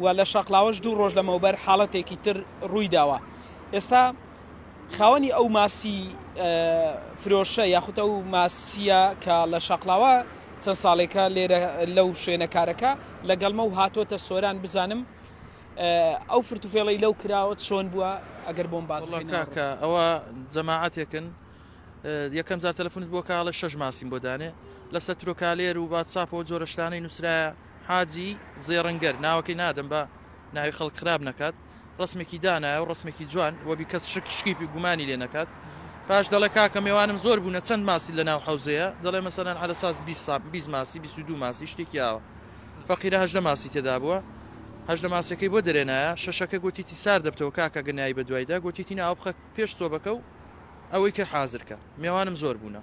و لە شاقلاوەش دوو ڕۆژ لەمەوبەر حاڵەتێکی تر ڕوویداوە ئێستا خاوەنی ئەو ماسی فرۆشە یاخود ئەو ماسیە کە لە شاقلاوە چەند ساڵێکە لێرە لەو شوێنە کارەکە لەگەڵمە و هاتۆتە سۆران بزانم ئەو فرتوفێڵی لەو کراوە چۆن بووە ئەگەر بۆم باز کاکە ئەوە جەماعاتێکن یەکەم جار تەلفونت بۆ کاڵە شەش ماسیم بۆ دانێ لەسەر ترۆکالێر و واتساپەوە جۆرەشتانەی نووسراە حاجی زێڕنگەر، ناوەکەی نادەم با ناوی خەڵک خراپ نەکات، ڕەسمێکی دانایە و ڕەسمێکی جوان وەبی کەس شک شکیپی و گومانی لێ نەکات. پاش دەڵێ کاکە مێوانم زۆر بوونە چەند ماسی لە ناو حەوزەیە؟ دەڵێ مەسەلەن عەلە ساس بیست سا بیست ماسی بیست و دوو ماسی شتێکی ئاوا. فەقیرە هەژدە ماسی تێدا بووە. هەژدە ماسیەکەی بۆ دەرێنایە. شەشەکە گۆتیتی سار دەبتەوە کاکە گە نایی بە دوایدا گۆتیتی نا ئەو بخە پێش سۆبەکە و ئەوەی کە حازر کە. مێوانم زۆر بوونە.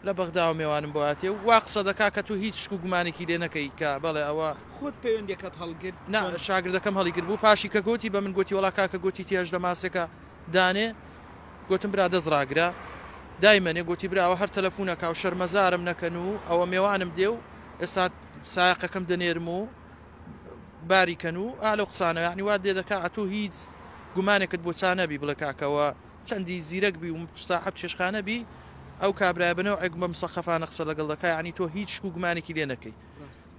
لە بەغداوە مێوانم بۆ هاتیە و وا قسە دەکا کە تۆ هیچ شک و گومانێکی لێ نەکەی کە بەڵێ ئەوە. خۆت پەیوەندیەکەت هەڵگرت؟ نا شاگردەکەم هەڵیگربوو پاشی کە گۆتی بە من گۆتی وەڵا کاکە گۆتی تێ هەژدە ماسێکە دانێ گۆتم برا دەست ڕاگرە دایمەنێ گۆتی برا ئەوە هەر تەلەفونەکا و شەرمەزارم نەکەن و ئەوە مێوانم دێ و ئێستا سایەقەکەم دەنێرم و باری کەن و ئا لەو قسانە یانی وات لێ دەکا ئەتوو هیچ گومانێکت بۆ چا نەبی بڵێ کاکە ئەوە چەندی زیرەک بی و ساحەب چێشخانە بی ئەو کابرایە بە نەوعێک بە مسەقەفانە قسە لەگەڵ دەکا یانی تۆ هیچ شک و گومانێکی لێ نەکەی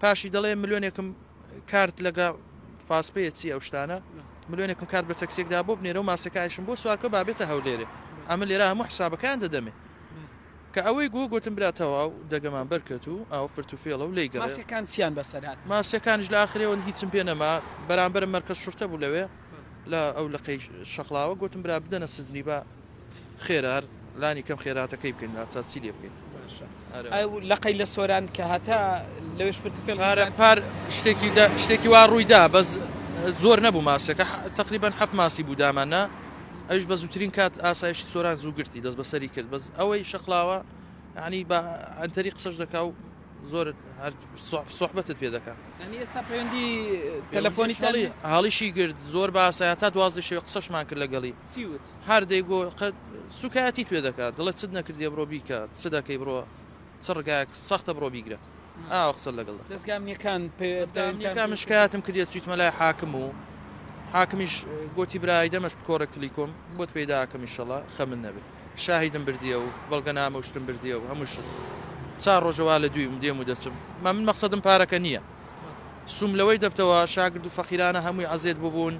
پاشی دەڵێ ملۆنێکم کارت لەگە فاسپەیە چی ئەو شتانە ملۆنێکم کارت بە تەکسێکدا بۆ بنێرە و ماسەکایشم بۆ سوارکە بابێتە هەولێرێ ئەمە لێرە هەموو حسابەکان دەدەمێ کە ئەوەی گو گوتم برا تەواو دەگەمان بەرکەت و ئەو فرت و فێڵە و لی گەڕەکان چیان بەسەرات ماسیەکانش لە ئاخرێەوە هیچم پێ نەما بەرامبەر مەرکز شورتە بوو لەوێ لە ئەو لقەی شەقڵاوە گۆتم برا بدەنە سجنی با خێرا هەر لانی کەم خێراتەکەی بکەین لا چاسی لێ بکەین لەقەی لە سۆران کە هەتا لەوێش فرتفێل پارە پار شتێکی شتێکی وا ڕوویدا بەس زۆر نەبوو ماسەکە تقریبان حەف ماسی بوو دامانە ئەوش بە زووترین کات ئاسایشی سۆران زوو گرتی دەست بەسەری کرد بەس ئەوەی شەقلاوە ینی بە ئەتەری قسەش دەکا و زۆر هەر سوحبەتت پێ دەکا ئێستا پەیوەندی تەلەفۆنی تەڵی هەڵیشی گرت زۆر باسە تا دوازی شێ قسەشمان کرد لەگەڵی چیوت هەردەی گۆ سوکایەتی پێ دەکات دڵێت چت نەکردی بڕۆ بیکە چ دەکەی بڕۆ چ ڕگایەک سەختە بڕۆ بیگرە ئاو قسە لەگەڵ دەستگامنیەکان پێستگامنیەکان مشکاتم کردێت سویتمە لای حاکم و حاکمیش گوتی برای دەمەش کۆڕە کلیکۆم بۆت پیداکەم میشەڵە خەمن نەبێت شاهیدم بردیە و بەڵگەنامە و شتم بردیە و هەموو شت چار ڕۆژە وا لە دویم دێم و دەچم ما من مەقسەدم پارەکە نیە سوم لەوەی دەبتەوە شاگرد و فەقیرانە هەمووی عەزێت ببوون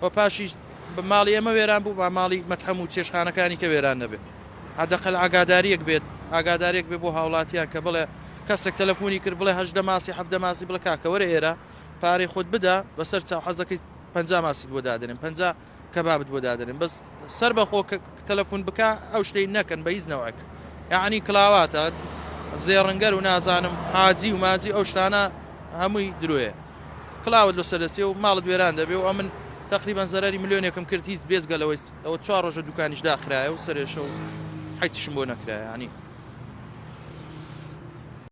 و پاشیش بە ماڵی ئێمە وێران بوو با ماڵی مەتحەم و چێشخانەکانی کە وێران نەبێت حەدەقەل ئاگاداریەک بێت ئاگادارێک بێ بۆ هاوڵاتیان کە بڵێ کەسێک تەلەفۆنی کرد بڵێ هەژدە ماسی حەفدە ماسی بڵێ کاکە وەرە ئێرە پارەی خۆت بدە بەسەر چاو حەزەکەی پەنجا ماسیت بۆ دادەنێم پەنجا کەبابت بۆ دادەنێم بەس سەربەخۆ تەلەفون بکە ئەو شتەی نەکەن بە هیچ نەوعێک یعنی کلاواتە زێڕنگەر و نازانم حاجی و ماجی ئەو شتانە هەمووی درۆیە کلاوت لەسەر دەسێ و ماڵت وێران دەبێ و ئەمن تقریبان زەرری ملیۆنێکم کرد هیچ بێزگەلەوەی ئەوە چوار ڕۆژە دوکانیش داخرایە و سەرێشە و حیچشم بۆ نەکرایانی